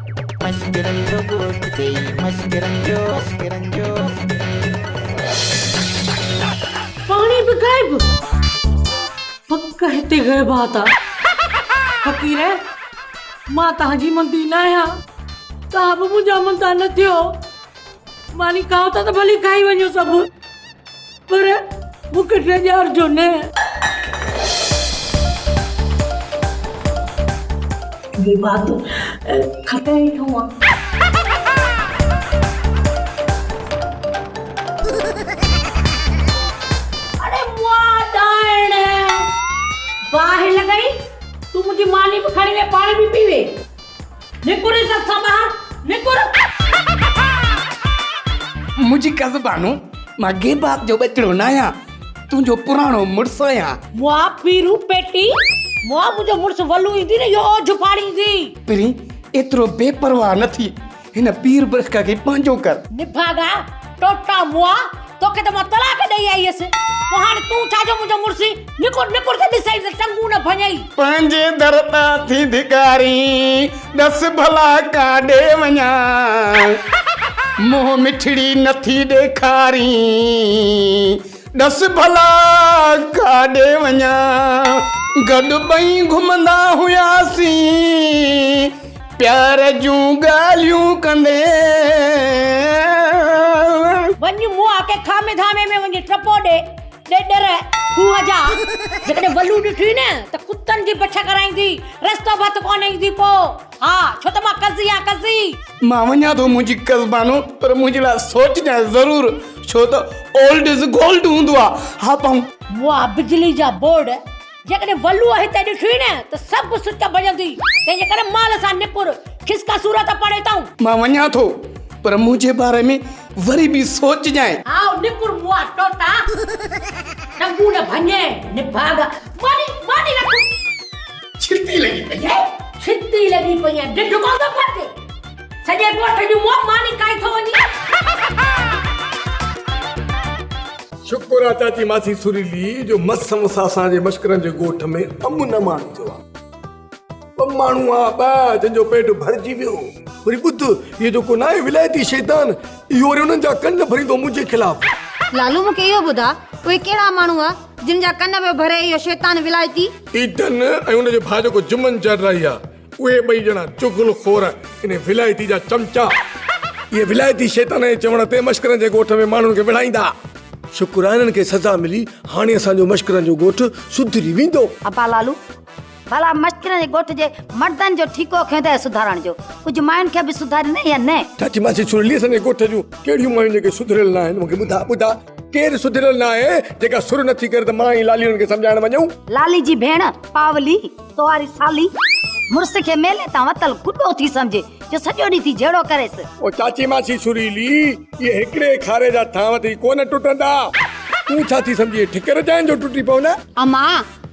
مسڪرن جو ڳوٺ ٿئي مسڪرن جو مسڪرن جو. پاڻي به غائب پڪ هتي غيبات آ. فقير مان تهان جي مندي نه آهيان تهان به منهنجا مندا نه ٿيو ماني کائو ٿا ته ڀلي کائي وڃو سڀ. پر مون کي ڊيڄارجو نه. بي بات کٽ هيٺون آ. اڙي موئا ڏائڻ باهه لڳئي تون منهنجي ماني به کڻي وئي پاڻ به پي وئي. نڪر عزت سان ٻاهر نڪر. منهنجي ڪز بانو مان گيبات جو ٻچڙو ناهيان تنهنجو پراڻو مڙس آهيان. مئا پيرو پيٽي مئا منهنجو مڙس ولو ايندي نه اهو اوجهه ڦاڙيندي. پرين ايترو بي پرواهه نه ٿي هن پير برخ کي پنهنجو ڪر. نڀاڳا ٽوٽا موئا توکي ته مان طلاق ڏئي آئي هيس پوء هاڻي تون ڇا جو منهنجو مڙسي نڪور نڪور ته ڏسئي ته ٽنگون نه ڀڃئي. پنهنجي در تان ٿي ڌڪارين ڏس ڀلا ڪاڏي وڃان منهن مٺڙي نٿي ڏيکارين ڏس ڀلا ڪاڏي وڃان گڏ ٻئي گهمندا هياسين. پيار جون ڳالهيون ڪندين. وڃ موئا ڪي کامي ڌامي ۾ وڃي ٽپو ڏي ڏيڏر کوهه جا جيڪڏهن ولو ڏٺي نه ته ڪتن جي بڇ ڪرائيندي رستو ڀت ڪونه ايندي پو ها ڇو ته مان قضي آ قضي. مان وڃان ٿو منهنجي قصبانو پر منهنجي لاء سوچجانء ضرور ڇو ته اولڊ از گولڊ هوندو آ ها پنهون. موئا بجلي جا بورڊ. جيڪڏهن ولوء هتي ڏٺوئي نه ته سڀ سچ ڀڄندوئي، تنهنجي ڪري مال سان نپر، کس ڪا صورت پڙهي تئون. مان وڃان ٿو، پر منهنجي باري ۾ وري به سوچجانء. هائو، نپر مئا ٽوٽا، ٽنگون نه ڀڃي، نڀاڳا، ماني، ماني رک. ڇتي لڳي پئي آهي. ڇتي لڳي پئي آهي، ڍڍ ڪونه ٿو ڦٽي. سڄي ڳوٺ جون منهن ماني کائي ٿو وڃي. شڪر آ چاچي ماسي سريلي جو مس مس اسان جي مشڪرن جي ڳوٺ ۾ امن امان ٿيو آ. ٻه ماڻهو آ ٻه جن جو پيٽ ڀرجي ويو. وري ٻڌ هيء جيڪو ناهي ولايتي شيطان اهو وري انهن جا ڪن ڀريندو منهنجي خلاف. لالو مون کي اهو ٻڌاء اهي ڪهڙا ماڻهو آ جن جا ڪن پيو ڀري اهو شيطان ولايتي. ايڌن ۽ ان جو ڀاء جيڪو جمن جرائي آ اهي ٻئي ڄڻا چغل خور يعني ولايتي جا چمچا اهي ولايتي شيطان جي چوڻ تي مشڪرن جي ڳوٺ ۾ ماڻهن کي وڙهائيندا ها. شڪر آهي انهن کي سزا ملي هاڻي اسان جو مشڪرن جو ڳوٺ سڌري ويندو. ابا لالو ڀلا مشڪرن جي ڳوٺ جي مردن جو ٺيڪو کنئن اٿئي سڌارڻ جو ڪجهه ماين کي به سڌاريندين يا نه. چاچي ماسي سرلي اسان جي ڳوٺ جون ڪهڙيون مايون جيڪي سڌريل ناهن مون کي ٻڌاء ٻڌاء. ڪير سڌريل نه آهي جيڪا سر نه ٿي ڪري ته مان ۽ لالي هن کي سمجهائڻ وڃون. لالي جي ڀيڻ پاولي ڪنواري سالي مڙس کي ميلي تان وتل گڏو ٿي سمجهي جو سڄو ڏينهن ٿي جهيڙو ڪريس. او چاچي ماسي سريلي اهي هڪڙي کاري جا ٿانو ٿي ڪونه ٽٽندا. تون ڇا ٿي سمجهين ٺڪر جائين جو ٽٽي پون. اما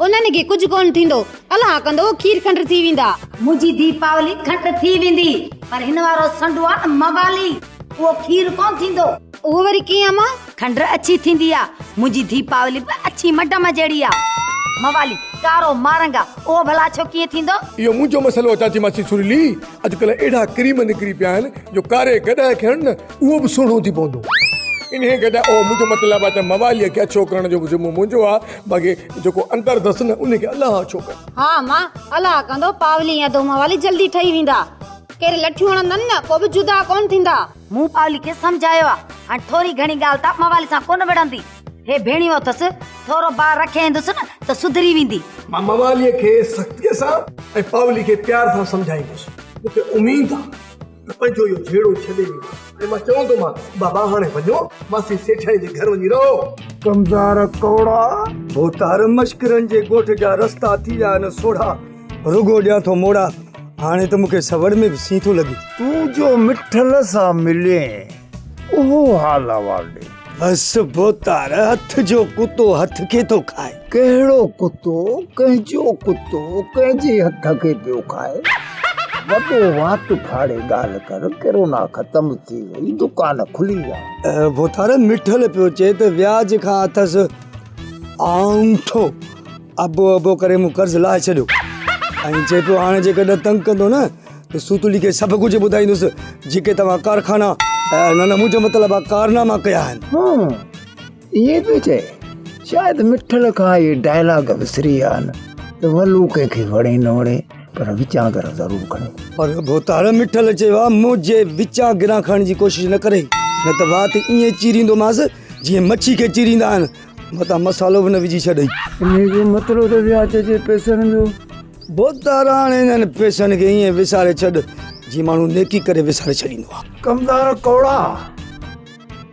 انهن کي ڪجهه ڪونه ٿيندو الله ڪندو کير کنڊ ٿي ويندا. منهنجي ڌي پاولي کنڊ ٿي ويندي پر هن وارو سنڊو آ نه موالي. اهو کير ڪونه ٿيندو. اهو وري ڪيئن امان؟ کنڊ اڇي ٿيندي آ. منهنجي ڌيپاولي به اڇي مڊم جهڙي آ. موالي، ڪارو مارنگ آ. اهو ڀلا ڇو ڪيئن ٿيندو؟ اهو منهنجو مسئلو آ چاچي ماسي سريلي. اڄڪلهه اهڙا ڪريم نڪري پيا آهن جو ڪاري گڏهه کي هڻ نه اهو به سهڻو ٿي پوندو. انهيء گڏهه اهو منهنجو مطلب آ ته مواليء کي اڇو ڪرڻ جو به ذمو منهنجو آ باقي جيڪو اندر اٿس نه ان کي الله اڇو ڪن. ها امان، الله ڪندو پاولي ۽ ڌوماولي جلدي ٺهي ويندا. ڪير لٺيون هڻندن نه پوء به جدا ڪونه ٿيندا. مون پاولي کي سمجهايو آ هاڻي ٿوري گهڻي ڳالهه ته موالي سان ڪونه وڙهندي. هي ڀيڻيون اٿس ٿورو بار رکي ايندس نه ته سڌري ويندي. مان موالي کي سختي سان ۽ پاولي کي پيار سان سمجهائيندس. مون کي اميد آ ته پنهنجو اهو جهيڙو ڇڏي ويندو ۽ مان چوندومانس بابا هاڻي وڃو ماسي سيٺاڻي جي گهر وڃي رهو. ڪمزار ڪوڙا ڀوتار مشڪرن جي ڳوٺ جا رستا ٿي ويا آهن سوڙها. رڳو ڏيان ٿو موڙا، هاڻي ته مون کي سوڙ ۾ به سين ٿو لڳي. تون جو مٺل سان ملين، اهو حال احوال ڏي. بس ڀوتار، هٿ جو ڪتو هٿ کي ٿو کائي. ڪهڙو ڪتو، ڪنهن جو ڪتو، ڪنهن جي هٿ کي پيو کائي. وڏو وات ڦاڙي ڳالهه ڪر، ڪرونا ختم ٿي وئي، دڪان کلي ويا. ڀوتار، مٺل پيو چئي ته وياج کان اٿس آنٺو. ابو ابو ڪري مون قرض لاهي ڇڏيو ۽ چئي پيو هاڻي جيڪڏهن تنگ ڪندو نه ته سوتلي کي سڀ ڪجهه ٻڌائيندس جيڪي توهان ڪارخانا نه نه منهنجو مطلب آ ڪارناما ڪيا آهن ها ائين پيو چئي شايد مٺل کان اهي ڊائلاگ وسري ويا آهن ته ولو ڪنهن کي وڻي نه وڻي پر وچان گرا ضرور کڻي پر ڀوتار مٺل چيو آ منهنجي وچان گرا کڻڻ جي ڪوشش نه ڪري نه ته وات ائين چيريندومانس جيئن مڇي کي چيريندا آهن متان مسالو به نه وجهي ڇڏئي. انهيء جو مطلب ته وياچ اچي پئسن جو. بوتار هاڻ انهن پئسن کي ائين وساري ڇڏ، جيئن ماڻهو نيڪي ڪري وساري ڇڏيندو آهي. ڪمدار ڪوڙا!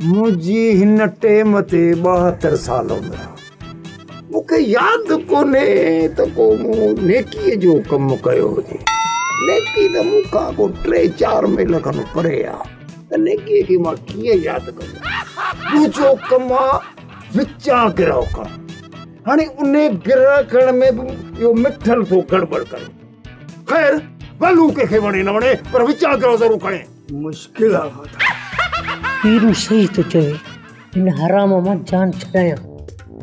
منهنجي هن ٽيم تي ٻاهتر سال عمر آهي. مون کي ياد به ڪونهي ته ڪو مون نيڪيء جو ڪم ڪيو هجي. نيڪي ته مون کان ڪو ٽي چار ميل کن پري آهي. ته نيڪيء کي مان ڪيئن ياد ڪندس ٻجهو ڪم آ وچان گرهه ڪرڻ هاڻي انهي گرهه ڪرڻ ۾ به اهو مٺل ٿو گڙٻڙ ڪري خير ڀلو ڪنهن کي وڻي نه وڻي پر وچان گرهه ضرور کڻي مشڪل آ ماتا پيرو صحيح ٿو چوي هن حرام مان جان ڇڏايان.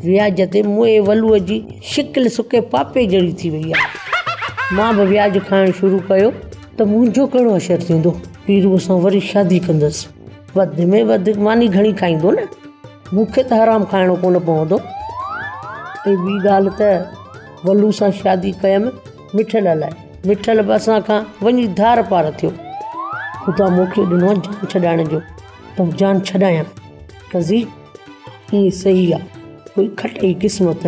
وياج تي موئي ولوء جي شڪل سڪي پاپي جهڙي ٿي وئي آهي. مان به وياج کائڻ شروع ڪيو ته منهنجو ڪهڙو حشر ٿيندو. پيروء سان وري شادي ڪندس. وڌ ۾ وڌ ماني گهڻي کائيندو نه. مون کي ته حرام کائڻو ڪونه پوندو. ۽ ٻي ڳالهه ته ولوء سان شادي ڪيم مٺل الاء مٺل به اسان کان وڃي ڌار پار ٿيو. خدا مون کي ڏنو آهي جان ڇڏائڻ جو. ته جان ڇڏايان قضي ائين صحيح آ ڪوئي کٽ اي قسمت.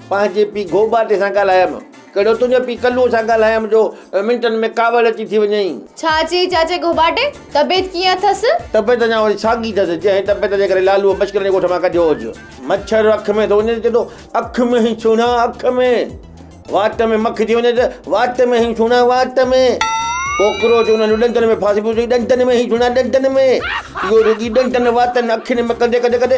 پنهنجي پيء گهوٻاٽي سان ڳالهايم. ڪهڙو تنهنجو پيء ڪلوء سان ڳالهايم جو منٽن ۾ ڪاوڙ اچي ٿي وڃئي. ڇا چيئي چاچي گهوٻاٽي؟ طبيعت ڪيئن اٿس؟ طبيعت اڃا اهڙي ساڳي اٿس، جنهن طبيعت جي ڪري لالوء مشڪل جي ڳوٺ مان ڪڍيو هوس. مڇر اک ۾ ٿو وڃي ته چئي ٿو، اک ۾ هي سهڻا، اک ۾. وات ۾ مک ٿي وڃي ته، وات ۾ هي سهڻا، وات ۾. ڪوڪروچ انهن جو ڏندن ۾ ڦاسي پيو چئي، ڏندن ۾ هي سهڻا، ڏندن ۾. اهو رڳي ڏندن، واتن، اکين ۾ ڪندي ڪندي ڪندي.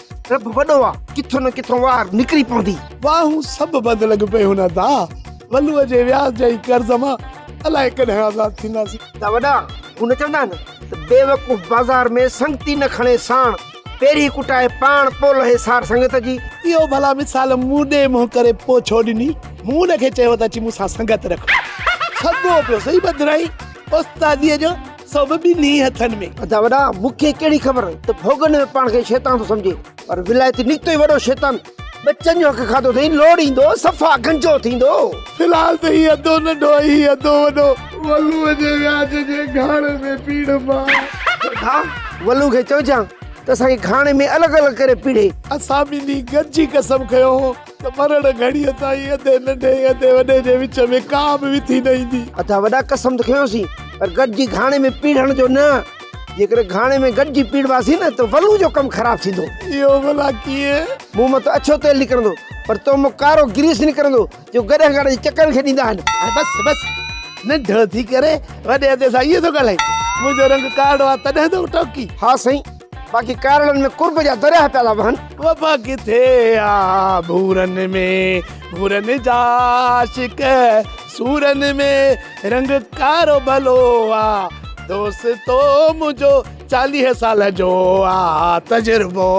رب وڏو آ ڪٿو نه ڪٿو وار نڪري پوندي. واهون سڀ بند لڳ پئي هن ادا ولوء جي وياج جي قرض مان الائي ڪڏهن آزاد ٿينداسين. ادا وڏا هو نه چوندا آهن ته بيوقوف بازار ۾ سنگتي نه کڻي ساڻ پيري ڪٽائي پاڻ پو لهي سار سنگت جي. اهو ڀلا مثال مون ڏي منهن ڪري پو ڇو ڏني مون ان کي چيو ته اچي مون سان سنگت رک سگهو پيو سهي بدرائين استادي جو. سو به ٻنهي هٿن ۾. ادا وڏا مون کي ڪهڙي خبر ته ڀوڳن ۾ پاڻ کي شيطان ٿو سمجهي پر ولايتي نڪتو ئي وڏو شيطان. ٻچن جو حق کاڌو اٿئي لوڙ ايندو صفا گنجو ٿيندو. في الحال ته هي اڌو ننڍو ۽ هي اڌو وڏو. ولوء جي وياج جي گهاڻي ۾ پيڙهه مان. ڀا ولوء کي چئجان ته اسان کي گهاڻي ۾ الڳ الڳ ڪري پيڙهي. اسان ٻنهي گڏجي قسم کنيو هو. ته مرڻ گهڙيء تائين اڌي ننڍي ۽ اڌي وڏي جي وچ ۾ ڪا به وٿي نه ايندي. اڌا وڏا قسم ته کنيوسين، پر گڏجي گهاڻي ۾ پيڙهڻ جو نه. جيڪڏهن گهاڻي ۾ گڏجي پيڙهواسين نه ته ولو جو ڪم خراب ٿيندو. اهو ڀلا ڪيئن؟ مون مان ته اڇو تيل نڪرندو، پر تو مان ڪارو گريس نڪرندو، جو گڏهه گهاڻي جي چڪرن کي ڏيندا آهن. هاڻي بس بس، ننڍڙو ٿي ڪري وڏي ادي سان ائين ٿو ڳالهائين. منهنجو رنگ ڪارڙو آهي، تڏهن ٿو ٽوڪين. ها سائين! باقي ڪارڙن ۾ قرب جا درياهه پيا ٿا وهن. وفا ڪٿي آ ڀورن ۾ ڀورن جا عاشق سورن ۾ رنگ ڪارو ڀلو آ دوستو منهنجو چاليهه سال جو آ تجربو.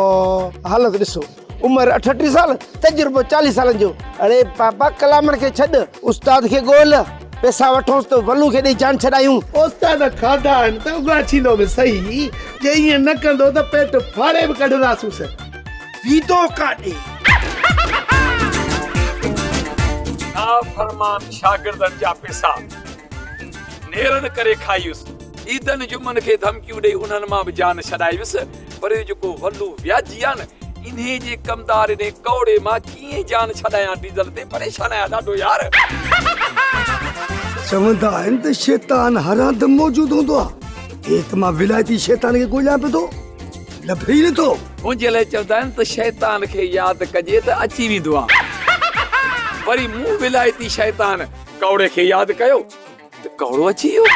حالت ڏسو عمر اٺٽيهه سال تجربو چاليهه سالن جو اڙي پاپا ڪلامن کي ڇڏ استاد کي ڳول پيسا وٺونس ته ولو کي ڏئي جان ڇڏايون. استاد کاڌا آهن ته اگهاڇيندو به سهي جي ائين نه ڪندو ته پيٽ ڦاڙي به ڪڍنداسونس. ويندو ڪاڏي. نافرمان شاگردن جا پيسا نيرن ڪري کايس. عيدن جمعن کي ڌمڪيون ڏئي انهن مان به جان ڇڏايس. پر اهو جيڪو ولو وياجي آهي نه انهي جي ڪمدار انهي ڪوڙي مان ڪيئن جان ڇڏايان ڊيزل تي پريشان آهيان ڏاڍو يار. چوندا آهن ته شيطان هر هنڌ موجود هوندو آ ايئن ته مان ولايتي شيطان کي ڳوليان پيو ٿو لڀي ئي نٿو. منهنجي لاء چوندا آهن ته شيطان کي ياد ڪجي ته اچي ويندو آ وري مون ولايتي شيطان ڪوڙي کي ياد ڪيو ته ڪوڙو اچي ويو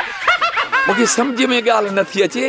مونکي سمجهه ۾ ڳالهه نٿي اچي.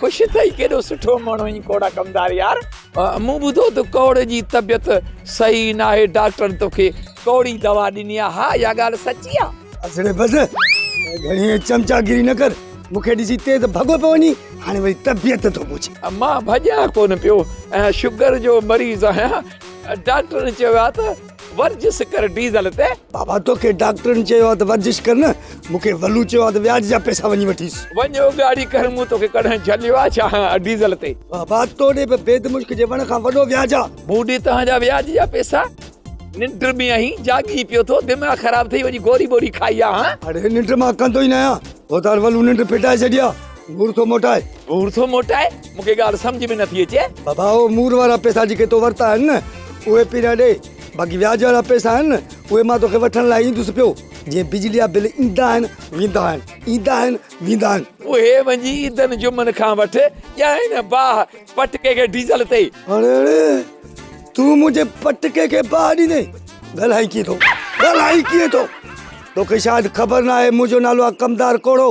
خوش ٿئي ڪيڏو سٺو ماڻهو ائين ڪوڙا ڪمدار يار. مون ٻڌو ته ڪوڙي جي طبيعت صحيح ناهي ڊاڪٽرن توکي ڪوڙي دوا ڏني آ ها اها ڳالهه سچي آ. اسڙي بس گهڻي چمچا گيري نه ڪر مون کي ڏسي تيز ڀڳو پيو وڃي هاڻي وري طبيعت ٿو پڇي. مان ڀڄان ڪونه پيو شگر جو مريض آهيان ڊاڪٽرن چيو آ ته. ورجس ڪر ڊيزل تي. بابا توکي ڊاڪٽرن چيو آ ته ورجش ڪر نه مونکي ولو چيو آ ته وياج جا پيسا وڃي وٺيس. وڃ اوڳاڙي ڪر مون توکي ڪڏهن جهليو آ ڇا ڊيزل تي. بابا تو ڏي به بيد مشڪ جي وڻ کان وڏو وياج آ. مون ڏي توهان جا وياج جا پيسا. ننڊ ۾ آهين جاڳي پيو ٿو دماغ خراب ٿئي وڃي گوري ٻوري کائي آ هان. اڙي ننڊ مان ڪندو ئي نه آهيان. هوتار ولو ننڊ ڦٽائي ڇڏي آ گهور ٿو موٽائي. گهور ٿو موٽائي. مون کي ڳالهه سمجهه ۾ نٿي اچي. بابا اهي مور وارا پئسا جيڪي تو ورتا آهن نه اهي پهريان ڏي باقي وياج وارا پئسا آهن نه اهي مان توکي وٺڻ لاء ايندس پيو جيئن بجلي جا بل ايندا آهن ويندا آهن ايندا آهن ويندا آهن. اهي وڃي عيدن جمعن کان وٺ ڄڻ هن باهه پٽڪي کي ڊيزل تي. اڙي اڙي تون منهنجي پٽڪي کي باهه ڏيندي ڳالهائين ڪيئن ٿو ڳالهائين ڪيئن ٿو توکي شايد خبر ناهي منهنجو نالو آهي ڪمدار ڪوڙو.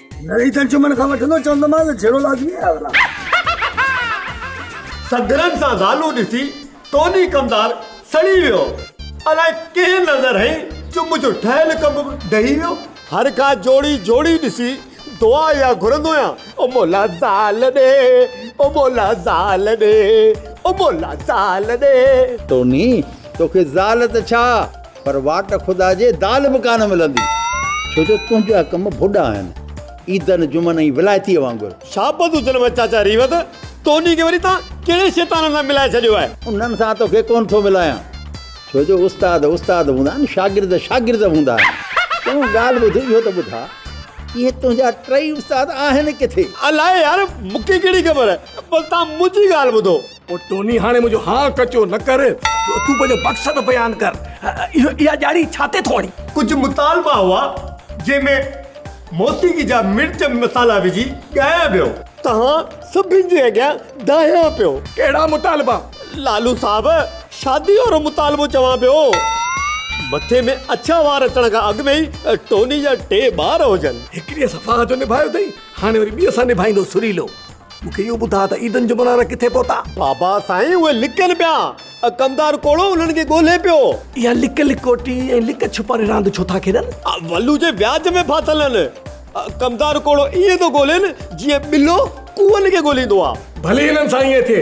نري تن چمن کان وٺندو چوندومانس جھيڙو لازمي آهي اولا. سگھرن سان زالون ڏسي توني ڪمدار سڙي ويو. الائي ڪنهن نظر هنئي جو منهنجو ٺهيل ڪم به ڊهي ويو. هر ڪا جوڙي جوڙي ڏسي دعا اها گھرندو آهيان او مولا زال ڏي او مولا زال ڏي او مولا زال ڏي. توني توکي زال ته ڇا پر واٽ خدا جي دال به ڪانه ملندي. ڇو جو تنهنجا ڪم ڀڏا آهن. عيدن، جمعن ۽ ولائتيء وانگر. شابس هجن وئي چاچا ريوت. توني کي وري تان ڪهڙي شيطان سان ملائي ڇڏيو آهي. انهن سان توکي ڪونه ٿو ملايان. ڇو جو استاد استاد هوندا آهن شاگرد شاگرد هوندا آهن. چڱو ڳالهه ٻڌ اهو ته ٻڌاء اهي تنهنجا ٽئي استاد آهن ڪٿي؟ الاهي يار مونکي ڪهڙي خبر. بس تان منهنجي ڳالهه ٻڌو. او ٽوني هاڻي منهنجو هاء ڪچو نه ڪر تون پنهنجو مقصد بيان ڪر اهو اها ڄاڙي ڇا تي ٿو هڻي. ڪجهه مطالبا هئا جنهن ۾ موسيقي جا مرچ مصالحا وجهي ڳايا ويو. توهان سڀني جي اڳيان دانهيان پيو. ڪهڙا مطالبا؟ لالو صاحب شادي وارو مطالبو چوان پيو. مٿي ۾ اڇا وار اچڻ کان اڳ ۾ ئي ٽوني جا ٽي ٻار هجن. هڪڙيء سان فاهه جو نڀايو اٿئي هاڻي وري ٻيء سان نڀائيندو سريلو. مون کي اهو ٻڌاء ته عيدن جا منارا ڪٿي پهتا؟ بابا سائين اهي لڪن پيا. اڪمدار ڪوڙو انهن کي ڳولهي پيو. اها لڪ لڪوٽي ۽ لڪ ڇپاري راند ڇو ٿا کيڏن؟ ولو جي وياج ۾ ڦاٿل آهن. اڪمدار ڪوڙو ائين ٿو ڳولهين جيئن ٻلو ڪوئن کي ڳولهيندو آهي. ڀلي هلن سائين اٿي.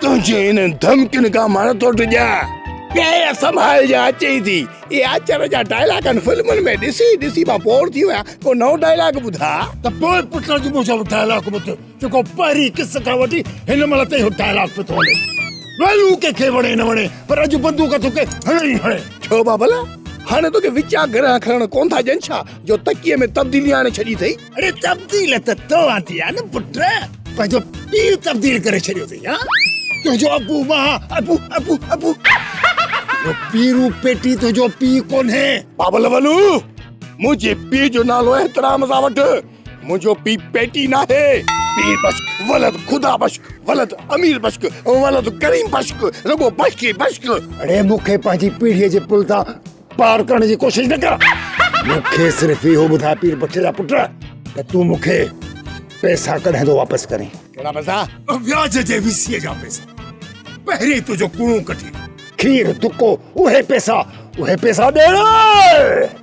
تنهنجي انهن ڌمڪين کان مان نٿو ڊڄان. پير سنڀالجان چئي ٿي. اهي آچر جا ڊائلاگ هن فلمن ۾ ڏسي ڏسي مان بور ٿي ويان ڪو نئون ڊائلاگ ٻڌاء. ته پوء پٽ اڄ منهنجو اهو ڊائلاگ ٻڌ جيڪو پهرين قسط کان وٺي هن مهل تائين اهو ڊائلاگ پيو ٿو هلي. ويلو ڪنهن کي وڻي نه وڻي پر اڄ بندوق توکي هڻي ئي هڻي. ڇو ڀلا هاڻي توکي وچان گرهه کڻڻ ڪونه ٿا ڏين ڇا جو تڪيي ۾ تبديلي آڻي ڇڏي اٿئي. اڙي تبديل ته تو آندي آ نه پٽ پنهنجو پي تبديل ڪري ڇڏيو اٿئي ها تنهنجو ابو مان ابو ابو ابو جو پيرو پيٽي تنهنجو پي ڪونهي بابل ولو منهنجي پي جو نالو احترام سان وٺ منهنجو پي پيٽي ناهي پي بشڪ ولد خدا بشڪ ولد امير بشڪ ولد ڪريم بشڪ رڳو بشڪ بشڪ اڙي مونکي پنهنجي پيڙهي جي پل تان پار ڪرڻ جي ڪوشش نه ڪر مون کي صرف اهو ٻڌاء پير بخش جا پٽ ته تون مون کي پئسا ڪڏهن ٿو واپس ڪرين ڪهڙا پئسا وياج جي ويسيء جا پئسا پهرين تنهنجو ڪوڻو ڪڍي کير دڪو اهي پئسا اهي پئسا ڏيڻا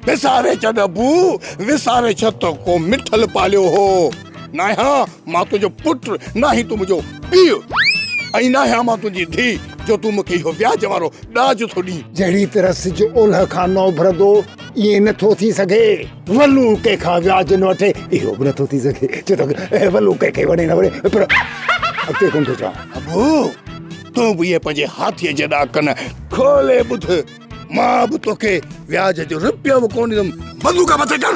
وساري ڇڏ ابو وساري ڇڏ تو ڪو مٺل پاليو هو ناهيان مان تنهنجو پٽ، ناهين تون منهنجو پيء ۽ ناهيان مان تنهنجي ڌيء جو تون مون کي اهو وياج وارو ڏاج ٿو ڏين. جهڙيء طرح سج اولهه کان نه اڀرندو، ائين نه ٿو ٿي سگهي. ولو ڪنهن کان وياج نه وٺي، اهو به نه ٿو ٿي سگهي. ڇو ته ولو ڪنهن کي وڻي نه وڻي، پر اڳتي ڪونه ٿو چوان. ابو! تون به اهي پنهنجي هاٿيء جيڏا ڪن کولي ٻڌ. مان به توکي وياج جو رپيو به ڪونه ڏيندم بندوق مٿي ڪر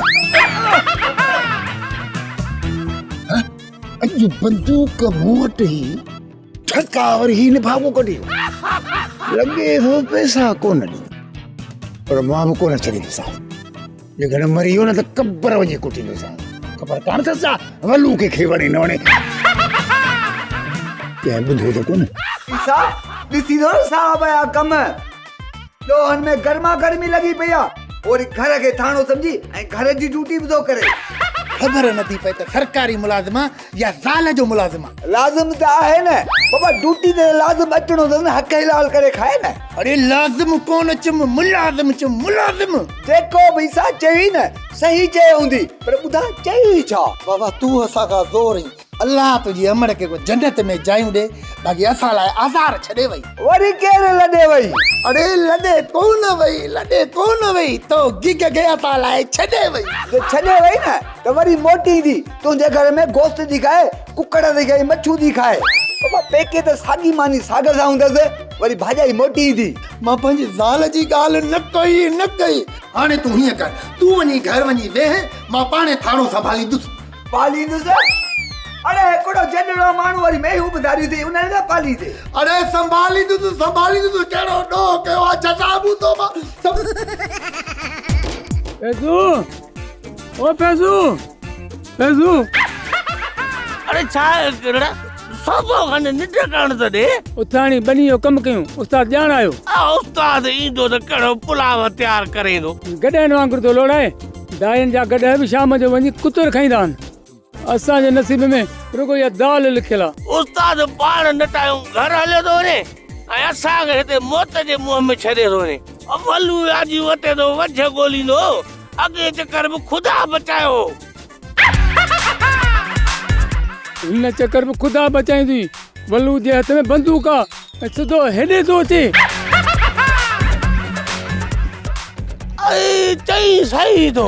اڄ بندوق مون وٽ هي ٺڪا وري هي لفافو ڪڍي لڳي ٿو پئسا ڪونه ڏي پر مان به ڪونه ڇڏيندوسان لگھڻ مري ويو نه ته قبر وڃي ڪٽيندوسان خبر ڪانه اٿس ڇا ولو ڪنهن کي وڻي نه وڻي ڪنهن ٻڌو ته ڪونه عيسا ڏسي ٿو نه صاحب جا ڪم ڏوهن ۾ گرما گرمي لڳي پئي آ اوري گهر کي ٿاڻو سمجهي ۽ گهر جي ڊيوٽي به ٿو ڪري خبر نه ٿي پئي ته سرڪاري ملازم يا زال جو ملازم آ. لازم ته آهي نه بابا ڊوٽي تي لازم اچڻو اٿس نه حق حلال ڪري کائي نه. اڙي لازم ڪونه چم ملازم چم ملازم. جيڪو به سا چوي نه صحيح چيو هوندي پر ٻڌاء چوي ڇا. بابا تون اسان کان زور اين. الله تنهنجي امڙ کي ڪو جنت ۾ جايون ڏي باقي اسان لاء آزار ڇڏي وئي. وري ڪير لڏي وئي. اڙي لڏي ڪونه وئي لڏي ڪونه وئي تو گيگ کي اسان لاء ڇڏي وئي. جي ڇڏي وئي نه ته وري موٽيندي. تنهنجي گهر ۾ گوشت ٿي کائي، ڪڪڙ ٿي کائي، مڇون ٿي کائي. مان پيڪي ته ساڳي ماني ساڳ سان هوندس، وري ڀاڄائي موٽي ايندي. مان پنهنجي زال جي ڳالهه نه ڪئي، نه ڪئي. هاڻي تون هيئن ڪر، تون وڃي گهر وڃي ويهه، مان پاڻهي ٿانو سنڀاليندس. پاليندس؟ اڙي هڪڙو جنڙو ماڻهو وري مينهون به ڌاريون ٿئي، انهن کي پاليندي؟ اڙي سنڀاليندس، سنڀاليندس، ڪهڙو ڏوهه ڪيو آهي، جزا مون توبه. او فيضو فيضو اڙي ڇا ڪرڙا سوڀو کان ننڊ ڪرڻ ته ڏي اٿاڻي ٻني جو ڪم ڪيون استاد ڄاڻ آيو آ استاد ايندو ته ڪهڙو پلاو تيار ڪريندو گڏهن وانگر ٿو لوڙائي دائين جا گڏهه به شام جو وڃي ڪتر کائيندا آهن اسان جي نصيب ۾ رڳو اها دال لکيل آ. استاد پاڻ نٽايون گهر هليو ٿو وڃي ۽ اسان کي هتي موت جي منهن ۾ ڇڏي ٿو وڃي. اولو وياجي وٽي ٿو وجهه ڳوليندو هو. اڳئين چڪر به خدا بچايو هو. هن چڪر به خدا بچايون ٿي. ولو جي هٿ ۾ بندوق آ ۽ سڌو هيڏي ٿو اچي. اي چئين سهي ٿو.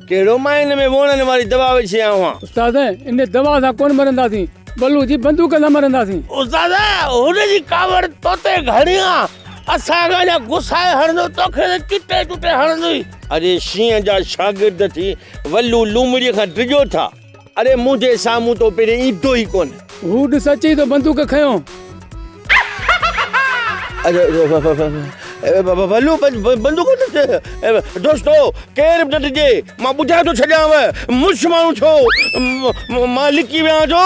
ڪهڙو مان ان ۾ ووڻن واري دوا وجهي آيو آهيان. استاد، ان دوا سان ڪونه مرنداسين، بلو جي بندوق سان مرنداسين. استاد، هن جي ڪاوڙ تو تي گهڻي آ، اسان کان اڃا گسائي هڻندو، توکي ته چٽي چٽي هڻندوئي. اڙي شينهن جا شاگرد ٿي ولو لومڙيء کان ڊڄو ٿا. اڙي منهنجي سامهون تو پهرين ايندو ئي ڪونه. هو ڏس اچي ٿو بندوق کنيو. ڀلو بندوق ڏس. دوستو ڪير به نه ڊڄي مان ٻڌائي ٿو ڇڏيانو مڙس ماڻهو ٿيو مان لڪي ويان ٿو.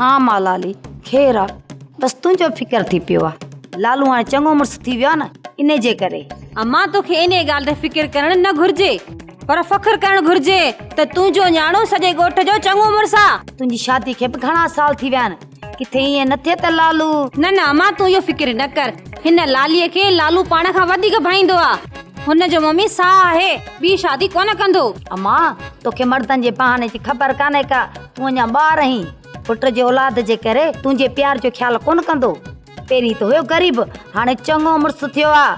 ها مالالي، خير آ، بس تنهنجو فڪر ٿي پيو آ. لالو هاڻي چڱو مڙس ٿي ويو آ نه، انهي جي ڪري. امان توکي انهي ڳالهه تي فڪر ڪرڻ نه گهرجي، پر فخر ڪرڻ گهرجي ته تنهنجو نياڻو سڄي ڳوٺ جو چڱو مڙس آ. تنهنجي شادي کي به گهڻا سال ٿي ويا آهن، ڪٿي ائين نه ٿئي ته لالو. نه نه امان تون اهو فڪر نه ڪر، هن لالي کي لالو پاڻ کان وڌيڪ ڀائيندو آ. هن جو ممي ساهه آهي، ٻي شادي ڪونه ڪندو. امان توکي مردن جي بهاني جي خبر ڪانهي ڪا. تون اڃا ٻار آهين، پٽ جي اولاد جي ڪري تنهنجي پيار جو خيال ڪونه ڪندو؟ پهرين ته هيو غريب، هاڻي چڱو مڙس ٿيو آ.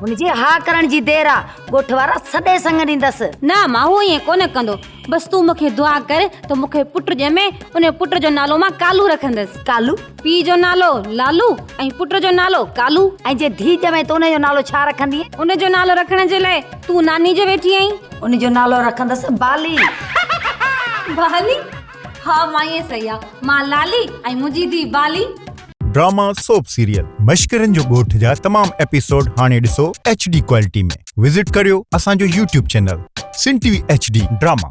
هن جي ها ڪرڻ جي دير آ، ڳوٺ وارا سڏي سڱ ڏيندس. نه امان، هو ائين ڪونه ڪندو. بس تون مون کي دعا ڪر ته مون کي پٽ ڄمي، ان پٽ جو نالو مان ڪالو رکندس. ڪالو؟ پيء جو نالو لالو ۽ پٽ جو نالو ڪالو. ۽ جي ڌيء ڄمين ته ان جو نالو ڇا رکندينء؟ ان جو نالو رکڻ جي لاء تون ناني جو ويٺي آهين. ان جو نالو رکندس بالي. بالي؟ ها مائي سهي آ. مان لالي ۽ منهنجي ڌيء بالي. ڊراما سوپ سيريل مشڪرين جو ڳوٺ جا تمام ايپيسوڊ هاڻي ڏسو ايڇ ڊي ڪوالٽي ۾ وزٽ ڪريو اسان جو YouTube channel Sindh T V H D drama.